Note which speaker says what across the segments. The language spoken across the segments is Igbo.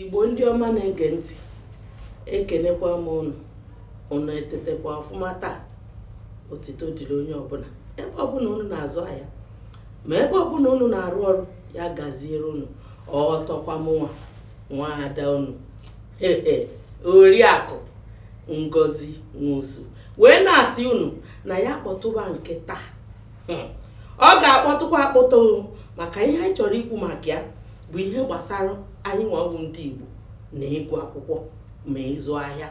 Speaker 1: igbo ndị ọma na-ege ntị ekenekwa m ụnụ ụnụ etetekwa ọfụma taa otito dịrị onye ọbụla ebe ọbụla ụnụ na-azụ ahịa ma ebe ọbụla ụnụ na-arụ ọrụ ya gaziere ụnụ ọtọkwa mụnwa nwa ada ụnụ oriakụ ngozi nwosu wee na-asị ụnụ na ya kpọtụba nke taa hmm. ọ ga-akpọtụkwa akpọtụ maka ihe anyị chọrọ ikwu maka ya bụ ihe gbasara anyịnwa wụ ndị Igbo na ịgụ akwụkwọ ma ịzụ ahịa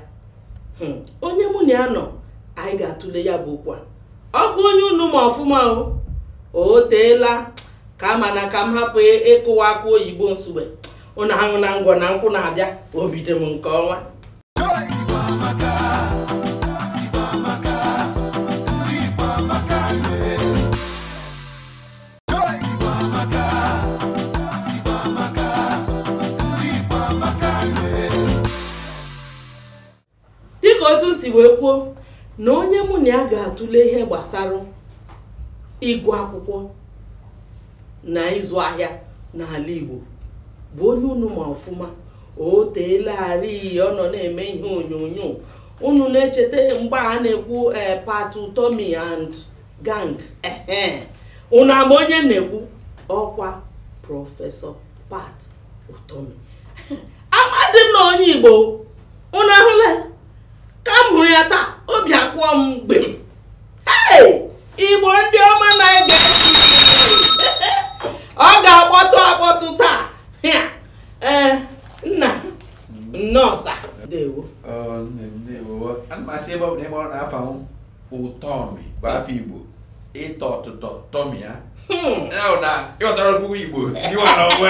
Speaker 1: hmm. onye mụ na ya nọ anyị ga-atụle ya bụ okwu a ọ bụ onye unu ma ọfụma o teela aka mana ka m hapụ ịkụwa akụ oyibo nsugbe ụnụ ahụ na ngwọ na nkwụ na-abịa obi dị m nke ọnwa dịka otu si wee kwuo na onye mụ na ya ga-atụle ihe gbasara ịgụ akwụkwọ na ịzụ ahịa n'ala Igbo bụ onye unu ma ọfụma o teelarị ọ nọ na-eme ihe onyonyo unu na-echeta mgbe a na-ekwu eh, pat utomi and gang ehe unu ama onye na-ekwu ọkwa prọfesọ pat utomi amadị m na ọ onye igbo unu ahụla ka m hụrụ ya taa obi akụọ m gbim igbo ndị ọma na-ege ntị ọ ga-akpọtụ akpọtụ taa ee eh, nna nnọọ sa ndewo oh, ndewo
Speaker 2: ana m asị ebe ọ bụ na ị mara na afa m ụtọmi bụ afa igbo ịtọ ụtọ tọmie ya hmm. na ị ghọtara okwu igbo kọwara onwe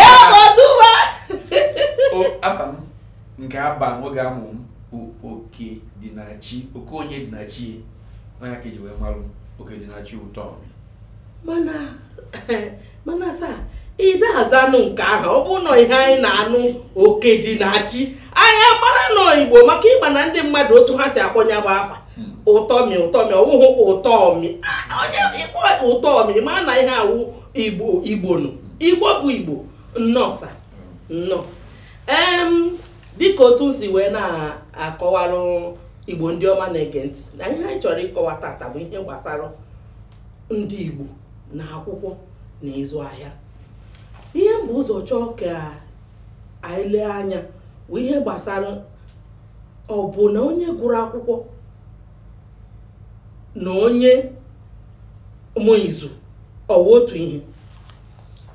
Speaker 2: ya
Speaker 1: ọtụba
Speaker 2: afa m nke a ba m oge a mụ m bụ okedịnachi oke onye dị na chi ọ ya ka e ji wee marụ m okedịnachi ụtọmi
Speaker 1: mana mana sa ide azanụ nke ahụ ọ bụ na ọ ihe anyị na-anụ okedịnachi anyị amara na ọ igbo maka ị ma na ndị mmadụ otu ha si akpọ ya bụ afa utomi utomi ọ bụghị ụtọmi onye ị kpọọ ụtọmi ma na ihe a wụ igbo igbo nụ igbo bụ igbo nnọọ sa nnọọ dịka otu m si wee na-akọwalụ igbo ndị ọma na-ege ntị na ihe anyị chọrọ ịkọwa tata bụ ihe gbasara ndị Igbo na akwụkwọ na ịzụ ahịa ihe m bu ụzọ chọọ ka anyị lee anya bụ ihe gbasara ọ bụ na onye gụrụ akwụkwọ na onye ma izu ọ wụ otu ihe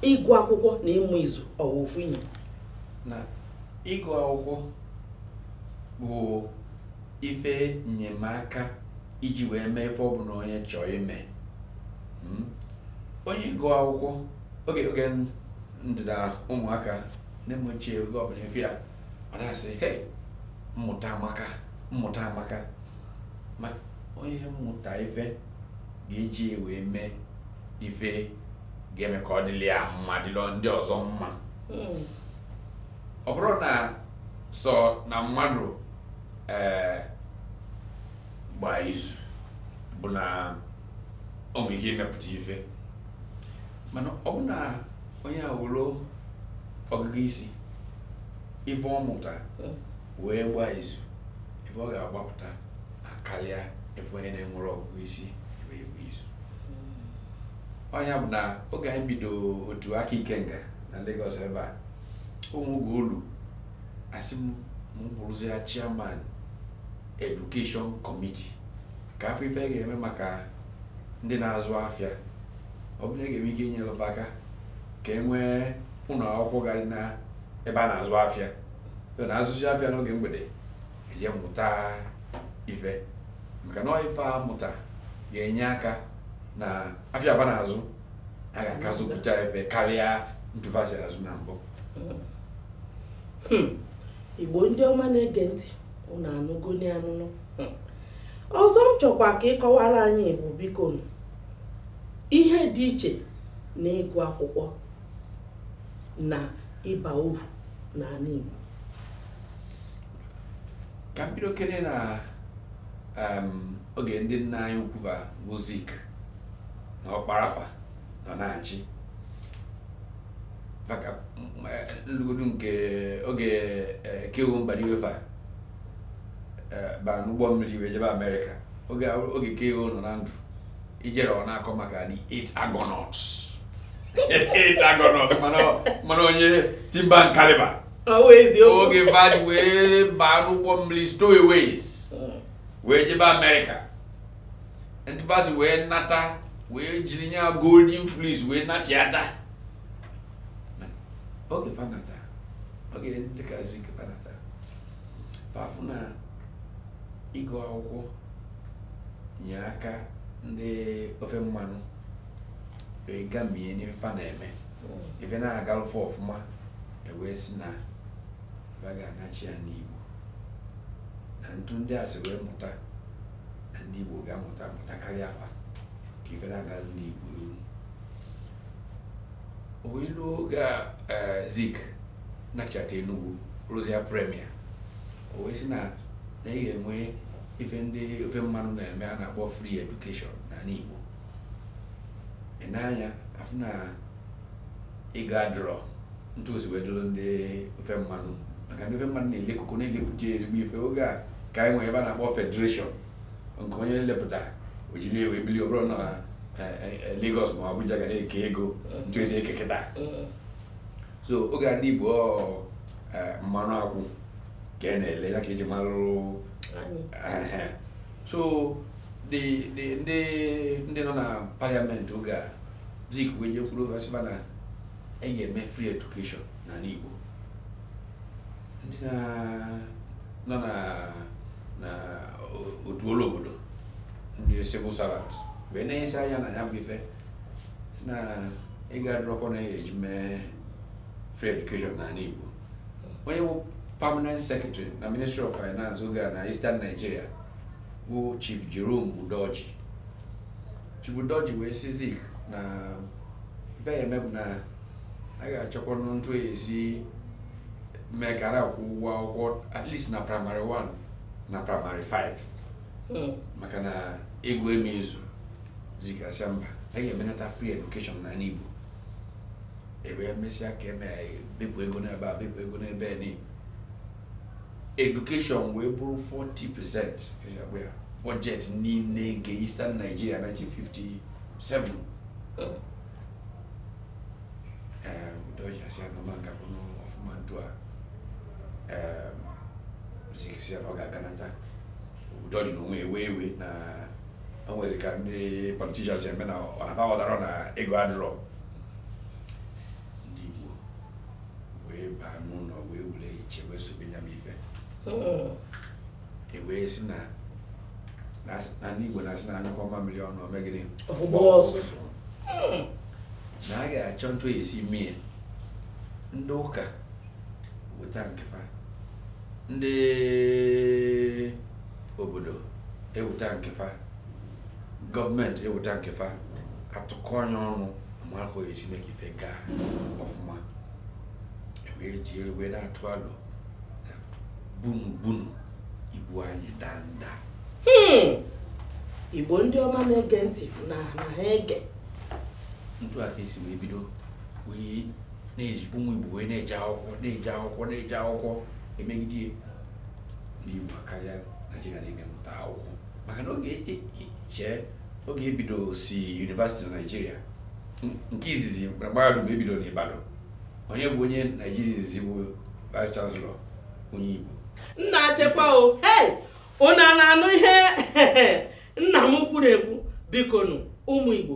Speaker 1: ịgụ akwụkwọ na ịma izu ọ wụ ofu ihe na
Speaker 2: ịgụ akwụkwọ bụ ife nnyemaka iji wee mee ife ọbụna onye chọọ ime hmm? onye gụọ akwụkwọ oge oge m dị na ụmụaka nne m ochie oge ọbụna ị fụ ya ọ na-asị hei mmụta amaka mmụta amaka ma onye mụta ife ga-eji wee mee ife ga-eme ka ọ dịlị ya mma dịlị ndị ọzọ mma hmm. ọ bụrụ na sọ na mmadụ ee eh, gba izu bụ na o nwere ike imepụta ife mana ọ bụ na onye nwelu ọgụgụ isi ife ọ mụta wee gbaa izu ife ọ ga-agbapụta na-akarịa ife onye na-enwerọ ọgụgụ isi wee gba izu ọ nya bụ na oge anyị bido otu Aka Ikenga na Lagos ebe a o nwe oge o lu a sị m m bụrụzie chairman education committee ka a fụ ife a ga-eme maka ndị na-azụ afịa ọ bụ na a ga-enwe ike inyere fa aka ka e nwee ụlọ akwụkwọ ga-adị na ebe a na-azụ afịa so na a zụsịa afịa n'oge mgbede e jee mụta ife maka na ọ ife a mụta ga-enye aka na afịa fa na-azụ a ga-aka zụpụta ife karịa etu fa si azụ na mbụ
Speaker 1: hmm. Igbo ndị ọma na-ege ntị unu anụgo n'anụnụ hmm. ọzọ m chọkwa ka ị kọwara anyị bụ biko ihe dị iche na ịgụ akwụkwọ na ịba uru n'ala
Speaker 2: Igbo ka m bidokene na oge ndị nna anyị ukwu bụ Zik na Ọkpara fa nọ na-achị ma ka m lugodu nke oge K.O. Mbadiwe fa ba n'ụgbọ mmiri wee jebe Amerịka oge K.O. nọ na ndụ i jere ọ na-akọ maka the eight Argonauts eight Argonauts mana onye timber and caliber oge fa ji wee baa n'ụgbọ mmiri stowaways wee jebe Amerịka ntu fa si wee nata wee jiri nya golden fleece wee nachiata oge fa nata oge dịka Zik fa nata fa fụ na ịgụ akwụkwọ nye aka ndị ofe mmanụ gamie n'ife fa na-eme hmm. ife na-agalụ fa ọfụma e wee sị na fa ga-anachia n'igbo na ntu ndị a si wee mụta na ndị Igbo ga-amụta amụta karịa fa ka ife na-aga ndị Igbo iru o wee lu oge a eh, Zik nachata Enugu rụzia premier o wee sị na nya ga-eme ife ndị ofe mmanụ na-eme a na-akpọ free education n'anị Igbo ị nee anya afụ na ego adịrọ ntu o si wee dụrụ ndị ofe mmanụ maka ndị ofe mmanụ na-ele koko na-elepụta ezigbo ife oge a ka anyị nwere ife a na-akpọ federation nke onye lepụta o jiri wee bili ọ bụrọ na eh, eh, eh, Lagos ma Abuja ga na-eke ego ntu e si eke kịta so oge a ndị Igbo ọ, eh, mmanụ akwụ ka a na-ele ya ka e ji malụ Ehe. so the the ndị ndị nọ na parliament oge a Zik wee jekwuru fa sị fa na e ga-eme free education n'anị Igbo ndị na- nọ na na o- otu ọlụ obodo ndị civil servant wee nenyesie anya na ya bụ ife sị na ego adịrọkwanụ a ya-eji mee free education n'anị Igbo onye bụ permanent secretary na ministry of finance oge a na Eastern Nigeria bụ Chief Jerome Udoji Chief Udoji wee sị Zik na ife a ya-eme bụ na a ga-achọkwa ntu e si mee ka a na-akwụ ụgwọ akwụkwọ at least na primary 1 na primary 5 hmm. maka na ego ama-ezu Zik asị mba a ga-emenata free education n'anị Igbo e wee mesịa ka e mee bepụ ego n'ebe a bepụ ego n'ebe a education wee bụrụ 40 percent budget niile nke Eastern Nigeria 1957 Udoji asị na ọ ma-agakwanụ ọfụma ntu a Zik sị na ọ ga-aganata Udoji n'onwe ewe iwe na o nwezi ka ndị politicians eme na ọ na fa aghọtarọ na ego adịrọ ndị Igbo wee baa n'ụlọ wee were uche wee sobe ya bụ ife hmm. e wee sị na na ndị Igbo na-asị na a nyụkọọ mamịrị ọnụ o mee gịnị na a ga-achọ ntu e si mie ndị ụka weta nke fa ndị obodo eweta nke fa gọọmenti eweta nke fa atụkọnye ọnụ ama ka a ya-esi mee ka ife gaa ọfụma ewee jiri wee na-atụ alo na bunu bunu ibu anyị danda Hmm.
Speaker 1: igbo ndị ọma na-ege ntị na na ha ege
Speaker 2: ntu aka esi wee bido wee na-ezi ụmụ igbo wee na-eje akwụkwọ na-eje akwụkwọ na-eje akwụkwọ emegide ya. ndị igbo akarịa naijiria na-eme mmụta akwụkwọ maka na oge chee oge ebido si yunivasiti na naijiria nke izizi na mahadum ebido na Ibadan onye bụ onye naijiria izizi bụ vice chancellor onye igbo
Speaker 1: nna achekwa o hei unu na-anụ ihe nna m kwuru ekwu biko nụ ụmụ igbo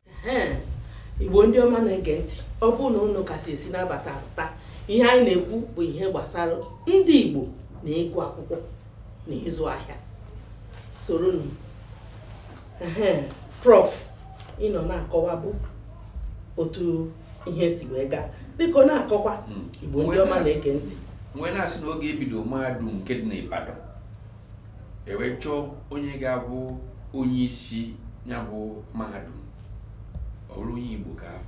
Speaker 1: igbo ndị ọma na-ege ntị ọ bụrụ na unu ka si esi na-abata abata ihe anyị na-ekwu bụ ihe gbasara ndị igbo na ịgụ akwụkwọ na ịzụ ahịa soronụ prof ị nọ na-akọwa bụ otu ihe si wee gaa biko na-akọkwa hmm. igbo ndị ọma na-ege ntị mgbe na-asị na oge
Speaker 2: ebido mahadum nke dị n'Ibadan ewe chọọ onye ga-abụ onye isi ya bụ mahadum ọ bụrụ onye Igbo ka a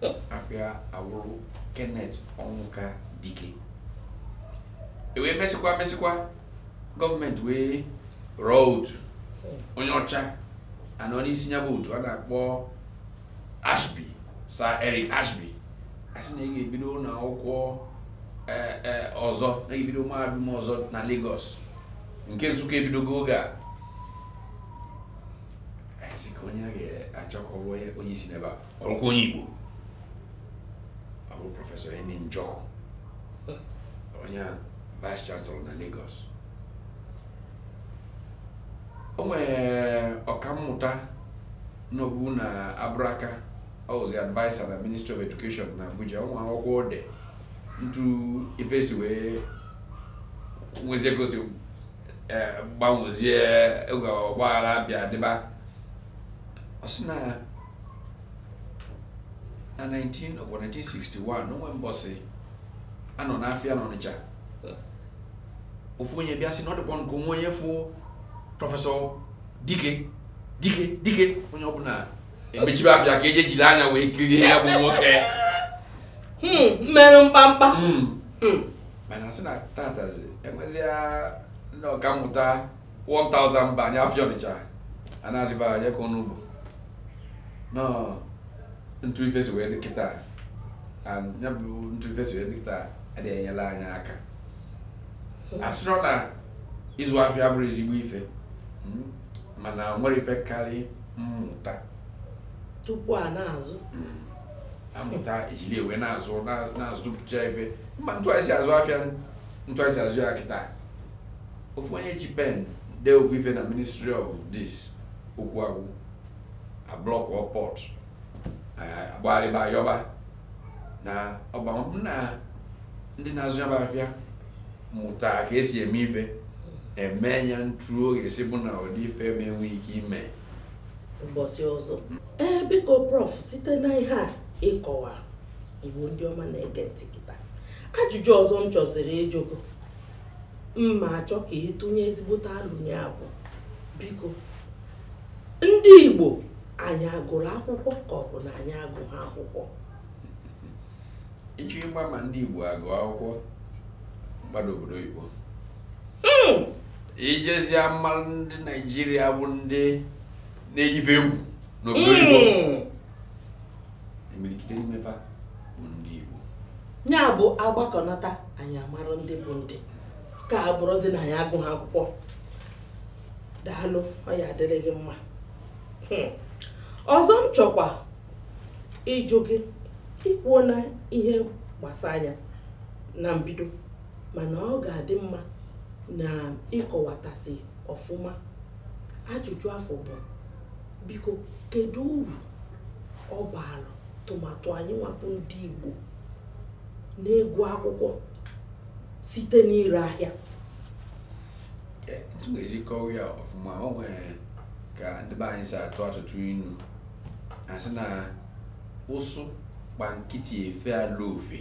Speaker 2: fụ afa ya awụrụ Kenneth Ọnwụka Dike ewee mesịkwa mesịkwa gọọmenti wee rọọ otu onye ọcha anọ n'isi ya bụ otu a na-akpọ Ashby Sir Eric Ashby asị na a ga-ebido ụlọ akwụkwọ e, e, ọzọ na ebido mahadum ọzọ na Lagos nke Nsụka ebidogo oge a asị ka onye a ga-achọ ka ọ bụ onye isi n'ebe a ọ wụkwa onye Igbo ọ bụ prọfesọ Eni Njọkụ onye vice chancellor na Lagos o nwere ọkammụta nọbu na Abraka ọ wụzi advisor na ministry of education na abuja o nwee akwụkwọ o dee ntu ife si wee nwezie ka o si eh, gbanwezie oge ọgbaghara bịa dịba ọ sị na na 19 ọgwa 1961 na o nwe mbọsị a nọ n'afịa n'ọnịcha ofu onye bịa sị na ọ dịkwa m ka o nwe onye fụ prọfesọ Dike onye ọbụla emechibe afịa ka eje jiri anya wee kirie ya bụ nwoke
Speaker 1: hmm, merụ mkpamkpa hmm. Hmm.
Speaker 2: mana sị na taataazi enwezia ndị ọkammụta 1000 banye afịa ọnịcha a na-azịba anya ka ọnụ bụ ntu ife si wee dị kịta ya bụ ntu ife si wee dị kịta adịghị enyelụ anyị aka asịrọ na ịzụ afịa bụrụ ezigbo ife hmm, mana nwere ife karị
Speaker 1: mmụta tupu a na-azụ hmm,
Speaker 2: amụta ejiri ewe na-azụ na-azụpụcha ife mma ntụgharịsị azụ afịa ntụgharịsị azụ ya kịta ofu onye ji pen dee ofu ife na ministry of this okwu agwụ a blockuo port eh, agbagharịba ayọba na ọ bụ ma ọ bụ na ndị na-azụ ya bụ afịa mụta ka esi eme ife eme ya ntu ọ ga-esi bụ na ụdị ife ama enwe ike ime mbọsị
Speaker 1: ọzọ ee biko prof site na ihe a ị kọwa Igbo ndị ọma na-ege ntị kịta ajụjụ ọzọ m chọziri ịjụ gị m ga-achọ ka ị tụnye ezigbote alọ na ya bụ biko ndị Igbo anyị agụrụ akwụkwọ ka ọ bụ na anyị agụghị
Speaker 2: akwụkwọ ị chọọ ịgba ma ndị Igbo agụ akwụkwọ gbada obodo oyibo hmm. i jezie marụ ndị Naijiria bụ ndị na-eyi ife egwu n'obodo oyibo hmm. imirikiti n'ime fa bụ ndị Igbo ya
Speaker 1: bụ agbakọnata anyị amarụ ndị bụ ndị ka a bụrụzi na anyị agụghị akwụkwọ daalụ ọ ya adịrị gị mma hmm. ọzọ m chọkwa ịjụ gị i kwuona ihe gbasara ya na mbido mana ọ ga-adị mma ma ị kọwatasịa ọfụma ajụjụ afụ bụ biko kedu uru ọ baara tụmadụ anyị nwa bụ ndị Igbo n'ịgụ akwụkwọ site n'ire ahịa
Speaker 2: etu m ga-esi kọwa ya ọfụma o nwere ka ndị be anyị si atụ atụtụ inu a sị na ụsụ gba nkịtị efe ala ofe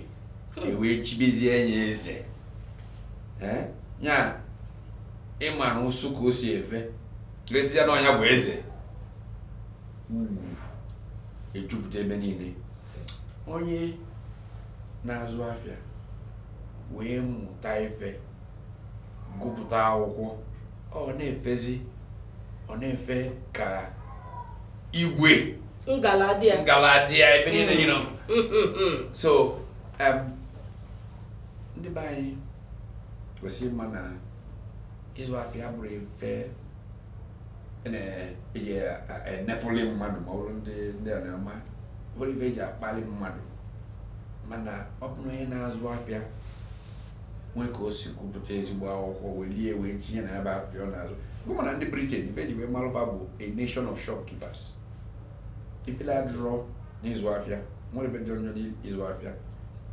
Speaker 2: ewee chibezie nya eze Eh? ya ịma na ụsụ ka o si efe lesịa na ọ nya bụ eze ugwu ejupụta ebe niile onye na-azụ afịa wee mụta ife gụpụta akwụkwọ ọ na-efezi ọ na-efe ka igwe ngaladịa
Speaker 1: ngaladịa
Speaker 2: ebe niile ya nọ so ndị be anyị kwesịrị ịma na ịzụ afịa abụrọ ife a na-eji enefuli mmadụ ma ọ bụrụ ndị ndị a na-ama bụrụ ife eji akpali mmadụ mana ọ bụrụ onye na-azụ afịa nwee ka o si gụpụta ezigbo akwụkwọ welie wee tinye na ya bụ afịa ọ na-azụ gụma na ndị Britain ife e ji wee malụ fa bụ a nation of shopkeepers ifele adịrọ n'ịzụ afịa nwerọ ife dị njọ n'ịzụ afịa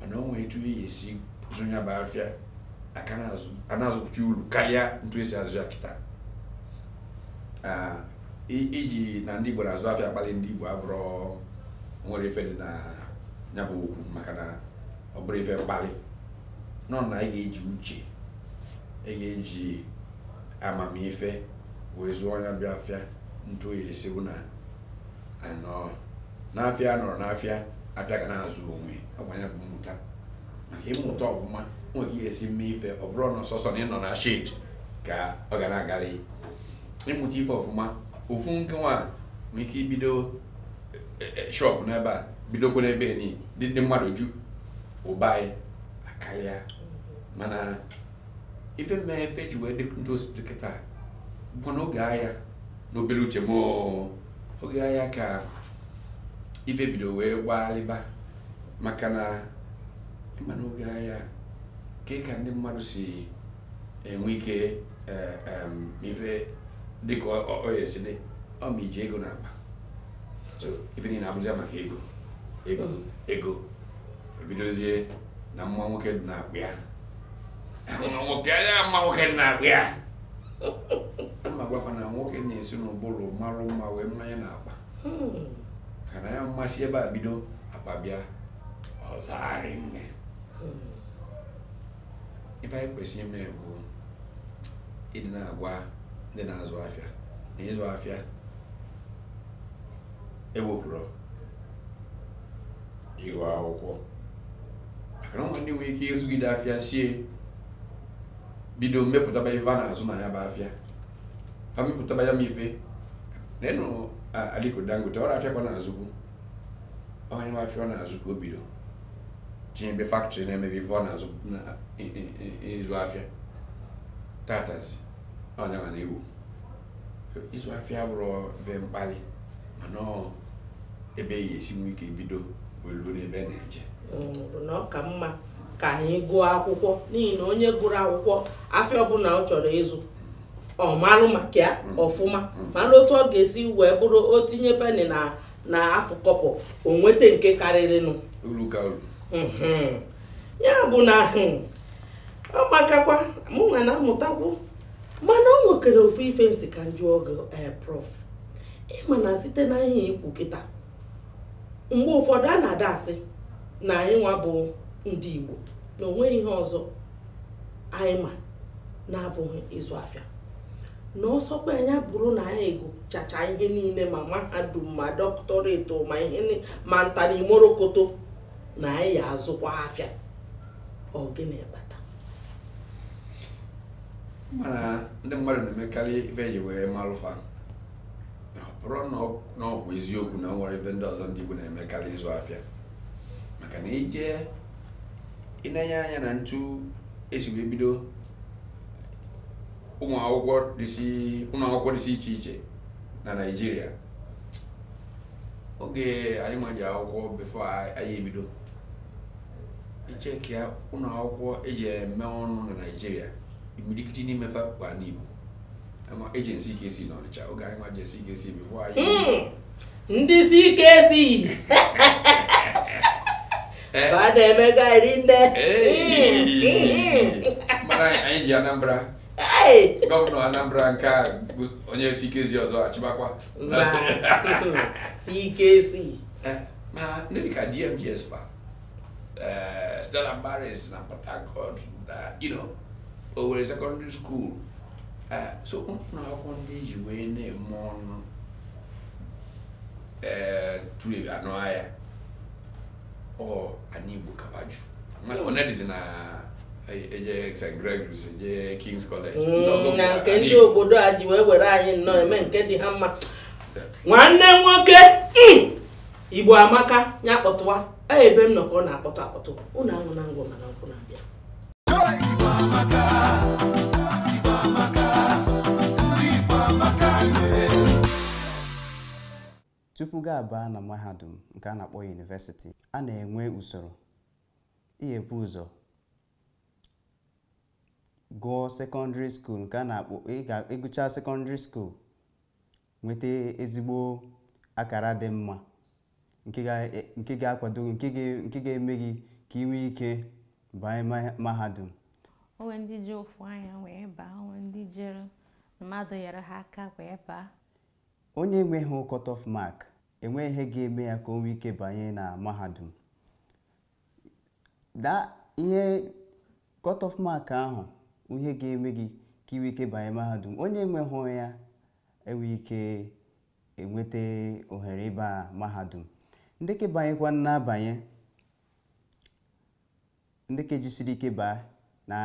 Speaker 2: mana o nwee etu a ya-esi zụ ya bụ afịa aka na-azụ- a na-azụpụta uru karịa ntu e si azụ ya kịta Ah, i- iji na ndị igbo na-azụ afịa akpali ndị igbo abụrọ nwerọ ife dị na ya bụ okwu maka na ọ bụrọ ife mkpali nọ na ị ga-eji uche ị ga-eji amamife wee zụọ nya bụ afịa ntu ọ ya-esi bụ na anọ n'afịa nọrọ n'afịa afịa ga na-azụ onwe ọkwa ya bụ mmụta maka ịmụta ọfụma nwere ka a ya-esi mee ife ọ bụrọ na ọ sọsọ na ị nọ na shed ka ọ ga na-agarị ị mụta ife ọfụma ofu nke nwa nwere ike ibido e, e, shop n'ebe a bidokwa n'ebe enyi dị ndị mmadụ ju ụba anyị akarịa mana ife mee ife ji wee dị ntu o si dị kịta bụ n'oge aya n'obere uche m oge aya ka ife bido wee gbaalịba maka na ị ma n'oge aya ka ka ndị mmadụ si enwe ike eh, ife dịka ọ ya-esi dị ọ ma iji ego n'akpa so ife niile abụzi maka ego ego hmm. ego e bidozie na mma nwoke dị n'akpa ya mma nwoke ya mma nwoke dị n'akpa ya adị m agwa fa na nwoke na-esi n'ụbụrụ marụ mma wee maa nya n'akpa hmm. ka na ya mmasị ebe a bido akpa bịa ọ zaa rinne hmm. ife anyị kwesịrị ime bụ ịdị na-agwa ndị na-azụ afịa na ịzụ afịa ewepụrọ ịgụ akwụkwọ maka na ndị nwere ike ịzụgide afịa sie bido mepụtaba ife a na-azụ na ya bụ afịa fa mepụtaba ya m ife na ị nụ Aliko Dangote ọ bụ afịa ka ọ na-azụbu ọ nya nwa afịa ọ na-azụ ka o bido tinyebe factory na-emebe ife ọ na-azụ ịzụ afịa tatazi onye mana iwu ịzụ afịa abụrọ ife mkpali mana ebe a ya-esi nwee ike bido wee luo n'ebe a na-eje mm, bụ na ọ
Speaker 1: ka mma ka anyị gụọ akwụkwọ n'ihi na onye gụrụ akwụkwọ afịa ọbụla ọ chọrọ ịzụ ọ malụ maka ya mm. ọfụma mm. malụ otu ọ ga-esi wee bụrụ o tinye penị na na afụ kọbọ o nweta nke karịrịnụ
Speaker 2: mm-hmm.
Speaker 1: ya bụ na hmm, ọ makakwa mụ nwa na-amụtakwu mana o nwekwere ofu ife m sị ka m jụọ gị eh, prof ị ma na site na ihe i kwu kịta mgbe ụfọdụ a na-adị asị na anyị nwa bụ ndị Igbo na o nweghị ihe ọzọ anyị ma na-abụghị ịzụ afịa na ọ sọkwanụ ya bụrụ na anyị agụchacha ihe niile ma mahadum ma doctorate ma ihe ma nta na imorokoto na anyị ya azụkwa afịa ọ gịnị
Speaker 2: bata mana ndị mmadụ na-emekarị ife eji wee malụ fa bụrụ na ọ bụ eziokwu na e nwere ife ndị ọzọ ndị Igbo na-eme karịa ịzụ afịa maka na ị je inenye anya n'etu esi wee bido ụnọ akwụkwọ dịsị iche iche na Naịjirịa oge anyị nwa je akwụkwọ before anyị ebido ị checkịa ụlọ akwụkwọ eji eme ọnụ na Naịjirịa imirikiti n'ime fa kwa n'Igbo eje na CKC n'Ọnịcha oge anyị nwa je CKC before anyị hmm. ndị
Speaker 1: CKC eh. ba na-eme gairi nne
Speaker 2: mana anyị ji Anambra gọvanọ Anambra nke a onye CKC ọzọ achịbakwa CKC
Speaker 1: eh, ma
Speaker 2: ndị dịka DMGS fa eh, Stella Maris na Port Harcourt na you know, Owerri secondary school Eh, so ụnọ akwụkwọ ndị e ji wee na-eme ọnụ eh, tụrụ ebe anụ ahịa ọ anị Igbo ka fa ju mmadụ one dịzi na-eje St. Gregory's eje King's College ndị ọzọ Mm, bụ na nke anyị ndị Igbo.
Speaker 1: obodo a ji wee were anyị nnọọ eme nke dị ha mma nwanne m nwoke mm, igbo amaka ya kpọtụwa a ebe m nọ ka ọ na-akpọtụ akpọtụ ụnụ
Speaker 3: aṅụna ngwọ mana nkwụ na-abịa tupu gị abaa na mahadum nke a na-akpọ university a na-enwe usoro ihe bu ụzọ gụọ secondary school nke a na-akpọ ị gụchaa secondary school nweta ezigbo akara dị mma nke ga- e- nke ga-akwado gị, nke ga- nke ga-eme gị ka ị nwee ike banye ma- mahadum o nwe ndị
Speaker 4: ji ofu anya wee baa o nwe ndị jere mmadụ nyere ha aka wee baa
Speaker 3: onye enweghị cut off mark enweghị ihe ga-eme ya ka o nwee ike banye na mahadum da ihe cut off mark ahụ ihe ga-eme gị ka ị nwee ike banye mahadum onye enweghị ya enweghị ike enweta ohere ịba mahadum ndị ka banyekwa na-abanye ndị ka jisiri ike baa na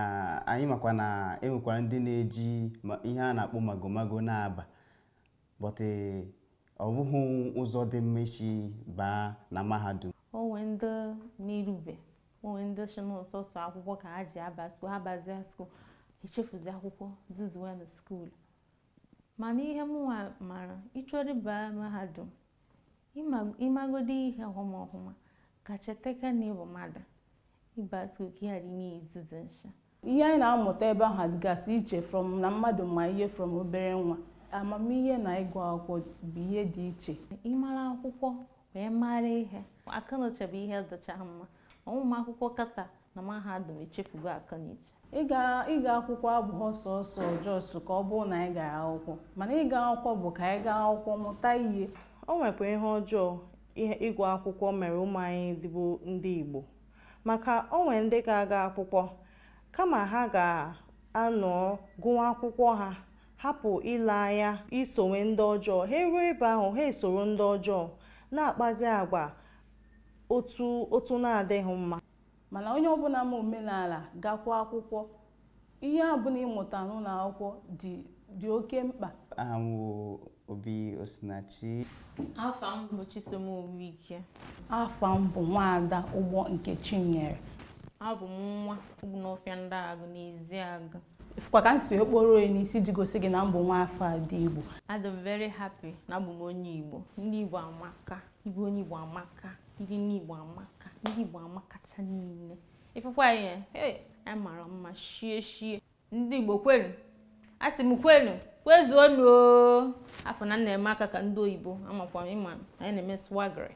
Speaker 3: anyị makwa na enwekwara ndị na-eji ma- ihe a na-akpọ magomago na-aba but ọ bụghị ụzọ dị mma isi baa na mahadum o nwe
Speaker 4: ndị n'irube o nwe ndị sị na ọ sọsọ akwụkwọ ka ha ji aba skuul ha bazie skuul echefuzi akwụkwọ zuzuwe na skuul Mana ihe mụnwa mara, ị chọrọ ịba mahadum, ị magodi ihe ọhụma ọhụma, ka chetekwa na ị bụ mmadụ, ị ba school ka ị ghara ime ya izuzu nshị. Ihe anyị
Speaker 5: na-amụta ebe ahụ dịgasị iche from na mmadụ ma ihe from obere nwa. Amamihe na ịgụ akwụkwọ bụ ihe dị iche. Ị mara akwụkwọ,
Speaker 4: wee mara ihe akọnuche bụ ihe dịcha mma ụmụ akwụkwọ kịta na mahadum echefugo akọnuche ịga ịga
Speaker 5: akwụkwọ abụghị sọsọ just ka ọ bụrụ na anyị gara akwụkwọ mana ịga akwụkwọ bụ ka anyị gaa akwụkwọ mụta ihe o nwekwa
Speaker 6: ihe ọjọọ ịgụ akwụkwọ mere ụmụ anyị ndị bụ ndị igbo maka o nwere ndị ga-aga akwụkwọ kama ha ga-anọ gụwa akwụkwọ ha hapụ ile anya isowe ndị ọjọọ ha eruo ebe ahụ ha esoro ndị ọjọọ na-akpazi agwa otu otu na-adịghị mma mana onye ọbụla
Speaker 5: ma omenala gakwa akwụkwọ ihe ọbụla ị mụta n'ụlọ akwụkwọ dị dị oke mkpa aha m
Speaker 3: bụ obi osinachi afa
Speaker 4: m bụ chisom owuike afa m
Speaker 5: bụ nwaada ụgbọ nkechinyere abụ m
Speaker 4: nwa obinofia ndiagu n'ezeagu Ị fụkwa ka m
Speaker 5: si wee kpọrọ ya n'isi ji gosi gị na m bụ nwa afọ ada Igbo. Adị m very
Speaker 4: happy na abụ m onye Igbo. Ndị Igbo amaka, ịbụ onye Igbo amaka, ndị nne Igbo amaka, ndị Igbo amakacha niile. Ị fụkwa ihe, hey, anyị mara mma shie shie. Ndị Igbo kwenu, asị m kwenu, kwezuonu o. Afọ na nna eme aka ka ndị oyibo a makwa ị ma anyị na-eme swaggery.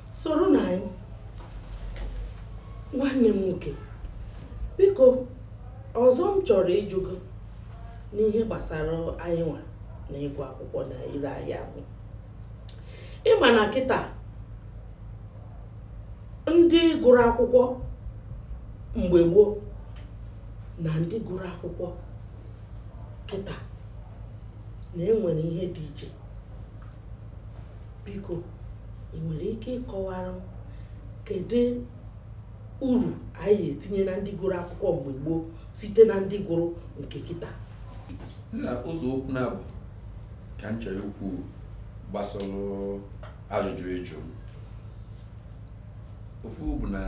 Speaker 1: soro na anyị nwanne m nwoke biko ọzọ m chọrọ ịjụ gị n'ihe gbasara anyị nwa na ịgụ akwụkwọ na ihe anyị agụ ị ma na kịta ndị gụrụ akwụkwọ mgbe gboo na ndị gụrụ akwụkwọ kịta na enwere ihe dị iche biko ị nwere ike ịkọwara m kedu uru anyị etinye na ndị gụrụ akwụkwọ mgbe gboo site na ndị gụrụ nke kịta
Speaker 2: ụzọ okwu naabọ ka m chọrọ ikwu gbasara ajụjụ ị jụ m ofu bụ na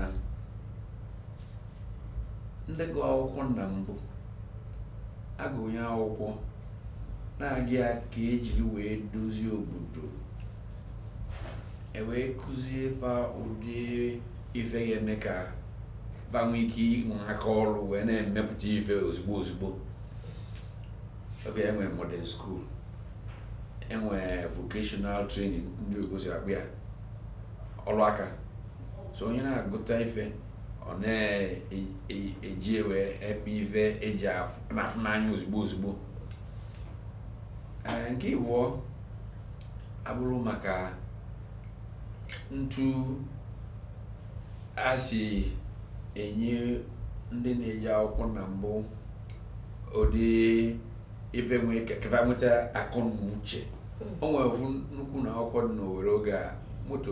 Speaker 2: ndị gụ akwụkwọ na mbụ agụnye akwụkwọ na-aga ya ka ejiri wee dozie obodo ewee kụzie fa ụdị ife ga-eme ka fa nwee ike inwe aka ọrụ wee na-emepụta ife ozugbo ozugbo oge enwe modern school enwe vocational training ndị igbo si akpọ ya ọrụ aka so onye na-agụta ife ọ na-eji e, e ewe eme ife eji na-afụ n'anya ozugbo ozugbo eh, nke ịbụọ abụrụ maka ntu a si enye ndị na-eje akwụkwọ na mbụ ụdị ife ka fa nweta akọ na uche hmm. o nwere nnukwu ụnọ akwụkwọ dị n'owere oge a motto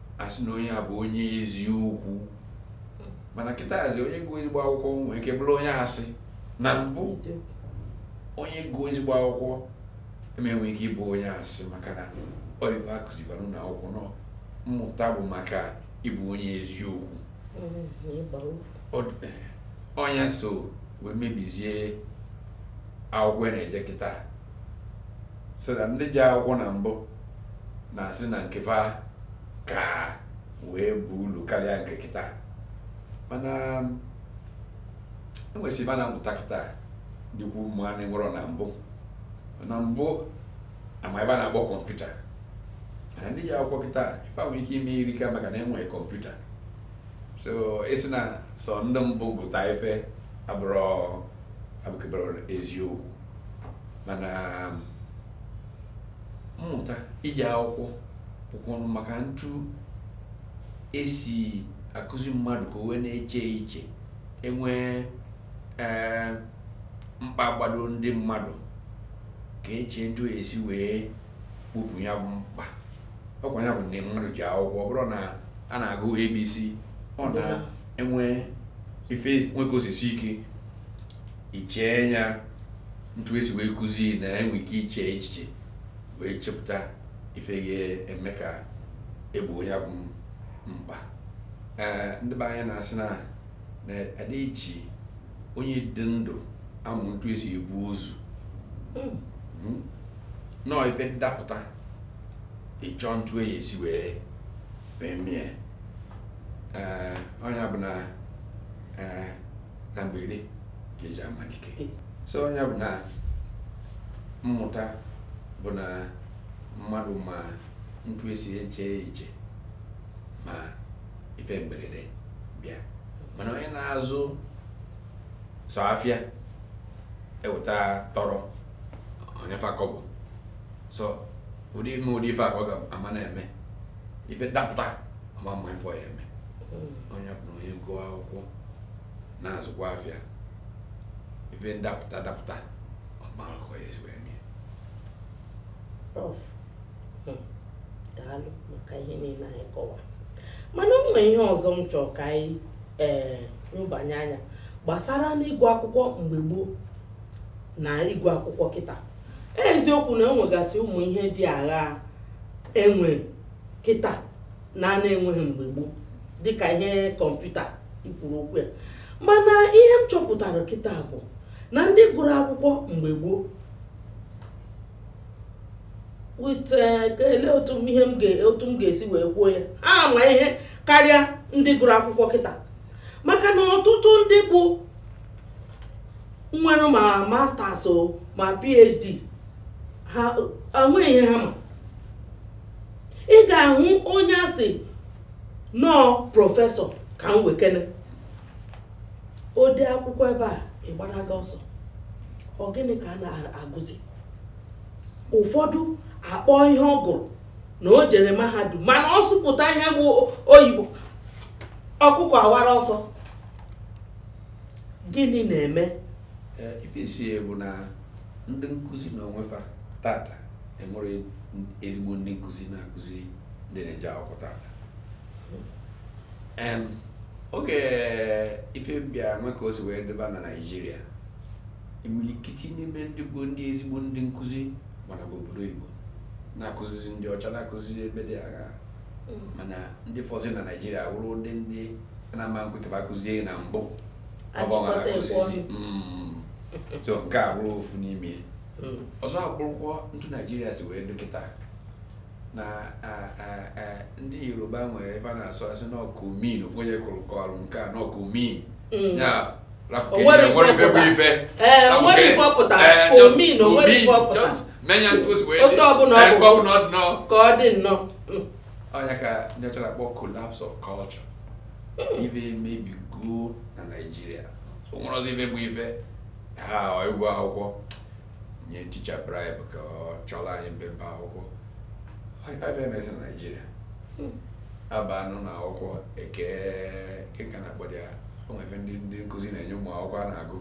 Speaker 2: asị na onye a bụ onye eziokwu mana kịtazi onye gụọ ezigbo akwụkwọ nwee ike bụrụ onye asị na mbụ onye gụọ ezigbo akwụkwọ ama enwe ike ịbụ onye asị maka na ọ ife akụzibara na akwụkwọ na mmụta bụ maka ịbụ onye eziokwu ọ nya so wee mebizie akwụkwọ a na-eje kịta so that ndị je akwụkwọ na mbụ na-asị na nke fa ka wee baa ulu karịa nke kịta mana enwesị ife a na-amụta kịta dịkwu mma na enwerọ na mbụ na mbụ ama ife a na-akpọ kọmputa na ndị je akwụkwọ kịta ife fa nwere ike ime erika maka na enwere kọmputa so ịsị na sọ ndị mbụ gụta ife abụkeberọ eziokwu mana mmụta ije akwụkwọ bụkwanụ maka ntu esi akụzi mmadụ ka o wee na-eche uche enwee mkpa gbado ndị mmadụ ka echee ntu esi wee kpopụ ya bụ mkpa ọkwa ya bụ na mmadụ je akwụkwọ ọ bụrọ na a na-agụ abc ọ na enwee ife nwe ka o si sie ike ichee ya ntu esi wee kụzi na enwe ike iche echiche wee chepụta ife ga-eme ka egbo ya bụ mkpa ee ndị be anyị na-asị na adị eji onye dị ndụ amụ ntu esi ebu ozu hmm. Hmm. na ọ ife dapụta ị chọ ntu a ya-esi wee mee mie nya bụ na na mberede ka eji ama dike so nya bụ na mmụta bụ na mmadụ ma ntu esi eche iche ma ife mberede bịa mana onye na-azụ sọ afịa eweta tọrọ o nye fa kọbọ sọ ụdị ime ụdị ife a ka ọ ga-ama na-eme ife ndapụta ọ ma-ama ife ọ ya-eme hmm. nya bụ na onye gụọ akwụkwọ na-azụkwa afịa ife ndapụta dapụta ọ ma ka ọ ya-esi wee mee prof
Speaker 1: hmm. daalụ maka ihe niile anyị kọwa mana o nwere ihe ọzọ m chọrọ ka anyị ee eh, nyobanye anya gbasara n'ịgụ akwụkwọ mgbe gboo na ịgụ akwụkwọ kịta eziokwu na enwegasị ụmụ ihe dị agha enwe kịta na a na-enweghị mgbe gboo dịka ihe kọmputa i kwuru okwu ya mana ihe m chọpụtara kịta bụ na ndị gụrụ akwụkwọ mgbe gboo with eh, ele otu m ihe m ga- otu m ga-esi wee kwuo ya ha ma ihe karịa ndị gụrụ akwụkwọ kịta maka na ọtụtụ ndị bụ nwere ma masters o ma phd ha enweghị ihe ha ma ị ga-ahụ onye asị na ọ prọfesọ ka m wekene o dee akwụkwọ ebe a ị gbanaga ọsọ ọ gịnị ka a na-agụzi ụfọdụ a kpọọ ihe ọ gụrụ na o jere mahadum mana ọ sụpụta ihe bụ oyibo ọkụkọ awara ọsọ gịnị na-eme
Speaker 2: ife isi bụ na ndị nkụzi na onwefa tata enwerọ ezigbo ndị nkụzi na-akụzi ndị na-eje akwụkwọ tata oge ife bịa nwee ka o si wee dịba na naijiria imilikiti n'ime ndị bụ ndị ezigbo ndị nkụzi gbanaba obodo oyibo na-akụzizi ndị ọcha na-akụzi ebe dị agha mana ndị fọzi na naijiria wụrụ ndị ndị na-ama ekwe ka fa kụzie na
Speaker 1: mbụ mm.
Speaker 2: so nke a bụrụ ofu n'ime mm. ọzọ abụrụkwa ntu naijiria si wee dị kịta na ndị yoruba nwere ife a na-asụ asị n'ọkụ min ofu onye kụrụ kọrụ nke a n'ọkụ min mm. ya
Speaker 1: otu
Speaker 2: ọbụla ọ bụ
Speaker 1: ka ọ dị nnọọ ọ nya
Speaker 2: ka ndị ọcha na-akpọ collapse of culture ife emebigo na naijiria o nwerọzi ife bụ ife ha ịgụ akwụkwọ nye ticha bribe ka ọ chọrọ anyị mpempe akwụkwọ ife emezi na naijiria a ba n'ụnọ akwụkwọ eke gịnị ka a na-akpọdị ya o nwee ife ndị ndị nkụzi na-enye ụmụ akwụkwọ a na-agụ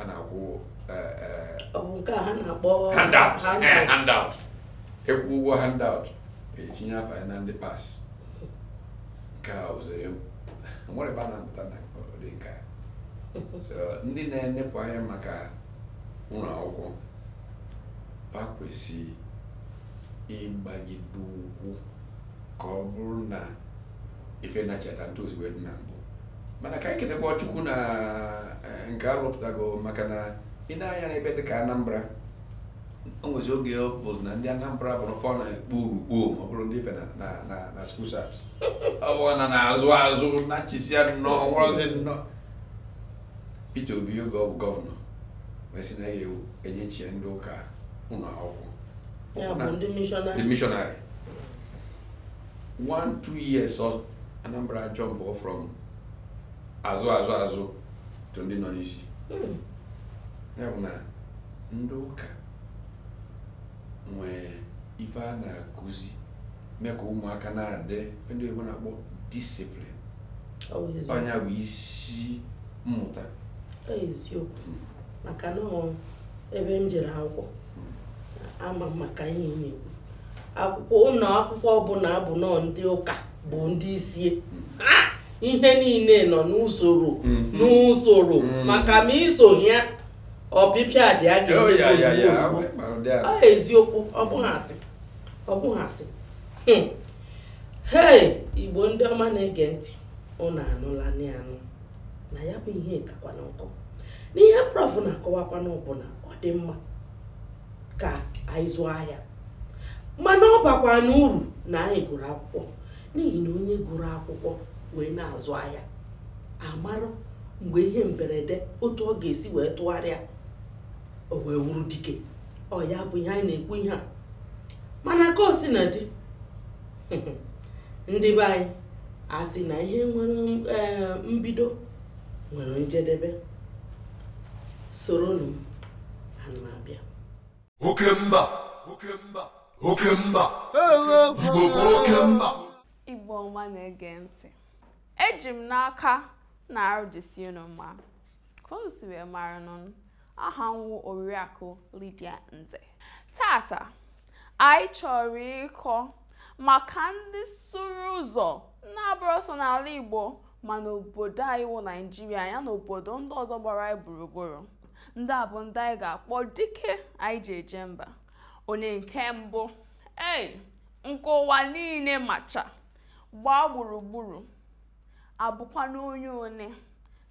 Speaker 2: a na-akwụ eh, eh,
Speaker 1: Ọ bụ nke a ha na-akpọ handout eh,
Speaker 2: handout. handout ị kwụọ ụgwọ handout etinye afa ya na ndị pass nke a ụzọ ya nwere ebe a na-amụta na ụdị nke a So, ndị na-enepụ anya maka ụlọ akwụkwọ ha kwesịrị ịgbagide ụkwụ ka ọ bụrụ na ife nachata n'otu o si wee dị na mbụ mana ka anyị kenekwa Chukwu na eh, nke arụpụtago maka na ị nee anya n'ebe dị ka Anambra o nwezi oge ọ bụzi na ndị Anambra bụ n'ụfọ na-ekpo urukpo ma ọ bụrụ ndị ife na- na na na school cert ọ bụ na n'azụ azụ nachisia nnọọ nwụrọzi nnọọ Peter Obi oge ọ bụ gọvanọ wee sị na ya enyechie ndị ụka ụnọ akwụkwọ Ya bụ ndị mishọnarị. ndị
Speaker 1: mishọnarị
Speaker 2: one two years ọ Anambra jump from azụ azụ azụ to ndị nọ n'isi Mm. ya bụ na ndị ụka nwee ife a na-akụzi mee ka ụmụaka na-adị ife ndị oyibo na-akpọ discipline ọ nya bụ isi mmụta
Speaker 1: eziokwu maka na ebe m jere akwụkwọ ama m maka ihe ị na-ekwu akwụkwọ ụlọ akwụkwọ ọbụla bụ na ọ ndị ụka bụ ndị isi ihe niile nọ n'usoro mhm. n'usoro mhm. maka ma i soghị ya ọpịpịa dị a ga-eme oh, eziokwu ọ bụghị asị ọ bụghị asị hmm. hei igbo ndị ọma na-ege ntị ụnụ anụla anụ na ya bụ ihe kakwanụ nkọ n'ihe prof na-akọwakwanụ bụ na ọ dị mma ka anyị zụọ ahịa mana ọ bakwanụ uru na anyị gụrụ akwụkwọ n'ihi na onye gụrụ akwụkwọ wee na-azụ ahịa amarụ mgbe ihe mberede otu ọ ga-esi wee tụgharịa o wee wụrụ dike ọ ya bụ ihe anyị na-ekwu ihe a mana ka o si na dị ndị be anyị a sị na ihe nwere eh, mbido nwere njedebe soronụ ana m abịa oke mba
Speaker 7: oke mba oke mba igbo bụ oke mba igbo ọma
Speaker 8: na-ege ntị eji m n'aka na arụ dịsị unu mma ka unu si wee mara nụ aha m wụ oriakụ Lydia Nze tata anyị chọrọ ịkọ maka ndị sụrụ ụzọ na-abụrọ sọ n'ala Igbo ma n'obodo anyị wụ Naijiria ya na obodo ndị ọzọ gbara anyị gburugburu ndị a bụ ndị anyị ga-akpọ dike anyị ji eje mba onye nke mbụ ee nke ụwa niile macha gbaa gburugburu abụkwanụ onye one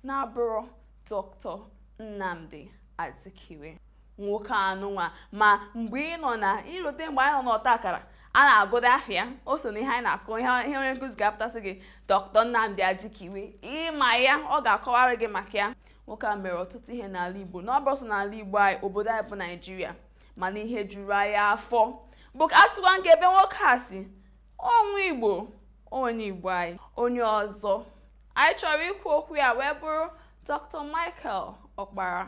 Speaker 8: na-abụrọ Dr. Nnamdi Azikiwe nwoke anụnwa ma mgbe ị nọ na i rote mgbe anyị nọ n'ọta akara a na-agụda afịa o so na ihe anyị na-agụ ihe ihe onye nkụzi ga-apụta sị gị Dr. Nnamdi Azikiwe ị ma ya ọ ga-akọwara gị maka ya nwoke a mere ọtụtụ ihe n'ala Igbo na ọ bụrọ sọ n'ala Igbo anyị obodo anyị bụ Naịjirịa mana ihe juru anyị afọ bụ ka a sịkwa nke ebe nwoke a si ọ nwa Igbo onye Igbo anyị onye ọzọ anyị chọrọ ikwu okwu ya wee bụrụ dr michael ọkpara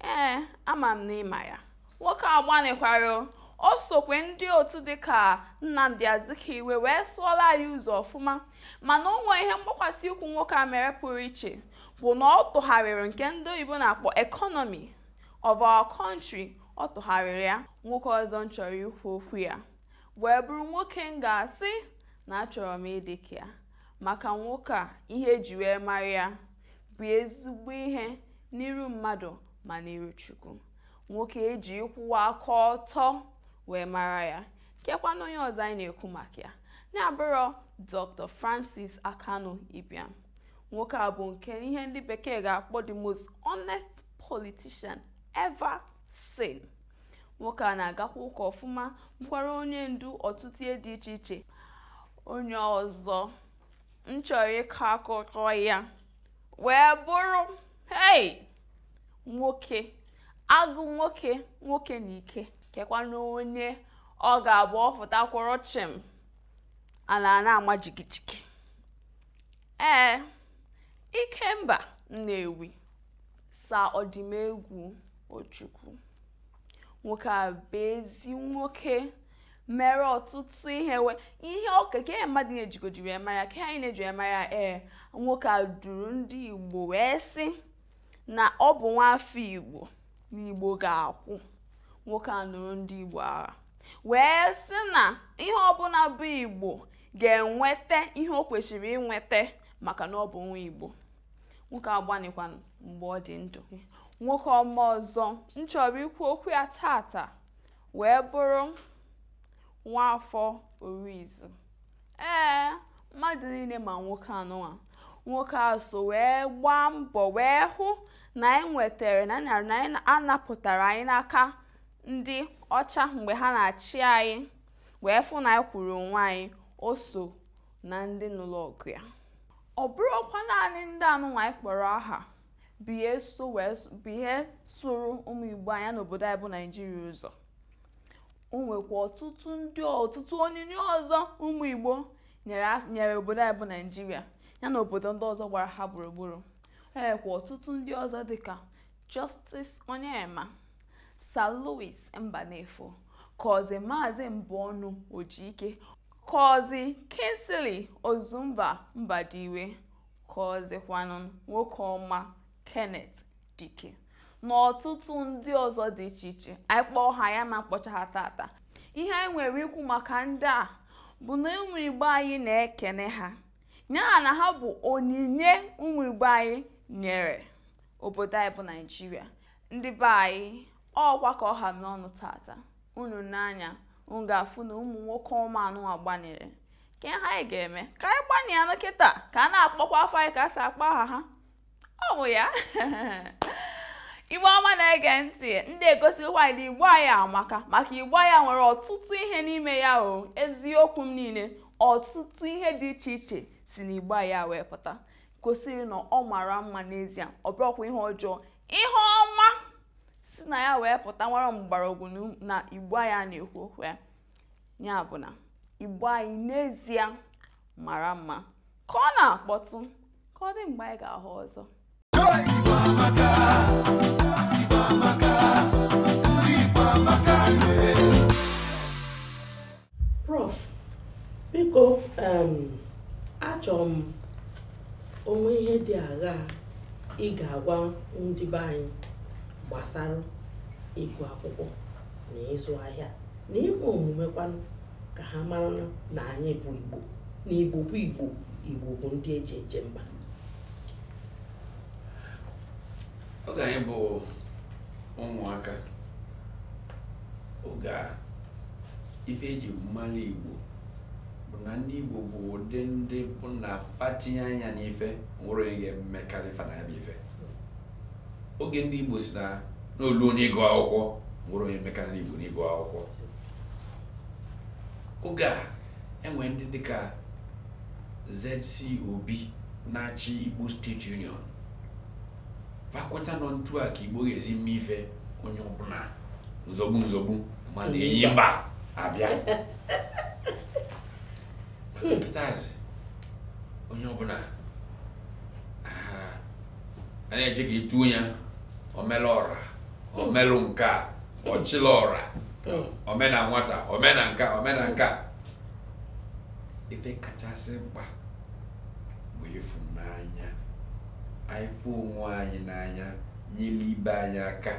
Speaker 8: ee ama m na ị ma ya nwoke a gbanịkwara o sokwe ndị otu dịka nnamdi azikiwe wee sụọla anyị ụzọ ọfụma mana o nwee ihe mgbakwasị ụkwụ nwoke a mere pụrụ iche bụ na ọ tụgharịrị nke ndị oyibo na-akpọ economy of our country ọ tụgharịrị ya nwoke ọzọ m chọrọ ikwu okwu ya wee bụrụ nwoke m ga-asị na achọrọ m ịdị ka ya Maka nwoke a, ihe e ji wee mara ya bụ ezigbo ihe n'iru mmadụ ma n'iru Chukwu. Nwoke e ji ịkwụwa aka ọtọ wee mara ya. Kekwanụ onye ọzọ anyị na-ekwu maka ya. Na-abụrọ Dr. Francis Akanu Ibiam. Nwoke a bụ nke ihe ndị bekee ga-akpọ the most honest politician ever seen. Nwoke a na-agakwa ụka ọfụma, bụkwara onye ndu ọtụtụ ihe dị iche iche. onye ọzọ m chọrọ ịkọ akụkọ ya wee bụrụ hei nwoke agụ nwoke nwoke na ike kekwanụ onye ọ ga-abụ ọ fụta kwụrụ chịm ala na-ama jigijigi ee ikemba nnewi sir odumegwu ojukwu nwoke a bụ ezi nwoke mere ọtụtụ ihe we ihe ọka ka ihe mmadụ na-ejigodi wee mara ka anyị na-eji wee mara ee nwoke a duru ndị igbo wee sị na ọ bụ nwa afọ igbo na igbo ga-akwụ nwoke a nụrụ ndị igbo agha wee sị na ihe ọbụla bụ igbo ga-enweta ihe o kwesịrị inweta maka na ọ bụ nwa igbo nwoke a gbanịkwanụ mgbe ọ dị ndụ nwoke ọma ọzọ m chọrọ ikwu okwu ya tata wee bụrụ Nwafọ Orizu ee mmadụ niile ma nwoke anụnwa nwoke a so wee gbaa mbọ wee hụ na anyị nwetara na a napụtara anyị n'aka ndị ọcha mgbe ha na-achị anyị wee fụ na anyị kwụụrụ onwe anyị o so na ndị nụrụ ọgụ ya ọ bụrọkwa naanị ndị anụnwa anyị kpọrọ aha bụ ihe so wee s- bụ ihe sụrụ ụmụ igbo anyị n'obodo anyị bụ naijiria ụzọ o nwekwa ọtụtụ ndị ọtụtụ onyinye ọzọ ụmụ igbo nyere af- nyere obodo anyị bụ naijiria ya na obodo ndị ọzọ gbara ha gburugburu o nwekwa ọtụtụ ndị ọzọ dịka justice onyeama sir louis mbanefo kọzi maazị mbọnụ ojike kọzi kingsley ozumba mbadiwe kọzikwanụ nwoke ọma Kenneth Dike na ọtụtụ ndị ọzọ dị iche iche anyị kpọọ ha anyị ama akpọcha ha tata ihe anyị nwere ikwu maka ndị a bụ na ụmụ igbo anyị na-ekene ha ya na ha bụ onyinye ụmụ igbo anyị nyere obodo anyị bụ naijiria ndị be anyị ọ kwa ka ọ ha m n'ọnụ tata unu nee anya unu ga-afụ na ụmụ nwoke ọma anụwa gbanịrị ike ha anyị ga-eme ka anyị gbanịanụ kịta ka a na-akpọkwa afa anyị ka e si akpọ aha ha ọ bụ ya igbo ọma na-ege ntị ndị egosikwa anyị na igbo anyị amaka maka igbo anyị nwere ọtụtụ ihe n'ime ya o eziokwu m niile ọtụtụ ihe dị iche iche si na igbo anyị wee pụta gosiri na ọ mara mma n'ezie ọ bụrọkwa ihe ọjọọ ihe ọma si na ya wee pụta nwere mgbọrọgwụ na igbo anyị na-ekwu okwu ya ya bụ na igbo anyị n'ezie mara mma ka ọ na-akpọtụ ka ọ dị mgbe anyị ga-ahụ ọzọ Igbo amaka, Igbo amaka, ndị Igbo
Speaker 1: amaka nwere. prof biko em, achọrọ m o nwe ihe dị aghaa ị ga-agwa ndị be anyị gbasara ịgụ akwụkwọ na ịzụ ahịa na ime omume kwanụ ka ha mara na anyị bụ igbo na igbo bụ igbo igbo bụ ndị e ji eje mba
Speaker 2: oge anyị bụ ụmụaka oge a ife e ji malụ igbo bụ na ndị igbo bụ ụdị ndị bụ na fa tinye anya n'ife nwerọ onye ga-emekalị fa na ya bụ ife oge ndị Igbo sị na na o lu n'ịgụ akwụkwọ nwerọ onye mekana Igbo n'ịgụ akwụkwọ oge e nwe ndị dịka ZC Obi na-achị Igbo State Union fa kweta na ọ ntu a ka Igbo ga-esi mee ife onye ọbụna nzọgbu nzọgbu mana enyi mba abịa kịtazi onye ọbụna a na-eche ka e tuo ya omelụ ọra omelụ nka ọchịlị ọra omena nwata omena nka omena nka ife kachasị mkpa bụ ịfụnanya anyị fụ onwe anyị n'anya nyere ibe anyị aka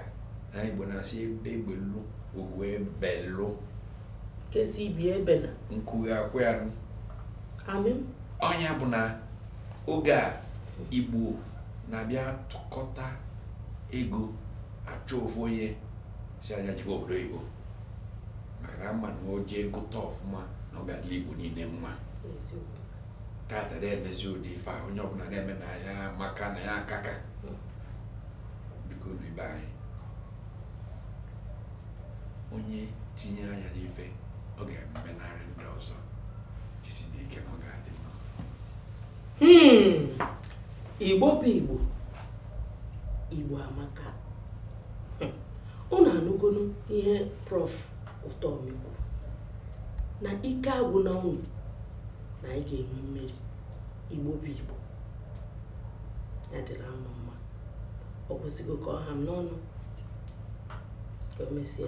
Speaker 2: anyị Igbo na-asị egbe belu ugo
Speaker 1: belu nke sị ibe ya ebena nku kwaa ya nụ ọ nya bụ
Speaker 2: na oge a igbo na-abịa tụkọta ego achọ ofu onye sị nya jebe obodo oyibo maka na a ma na o jee gụta ọfụma na ọ ga-adịlị igbo niine mma tata adị emezi ụdị ife a onye ọbụna na-eme na ya maka na ya akaka biko nụ ibe anyị onye tinye anya n'ife ọ ga-emenarị ndị ọzọ
Speaker 1: Hmm. igbo bụ igbo igbo amaka unu anụgonu ihe prof Utomi kwu na ike agwụna unu na anyị ga-enwe mmeri igbo bụ igbo ya dịrị anyị mma ọ gwụsịgo ka ọ ha m n'ọnụ ka o mesịa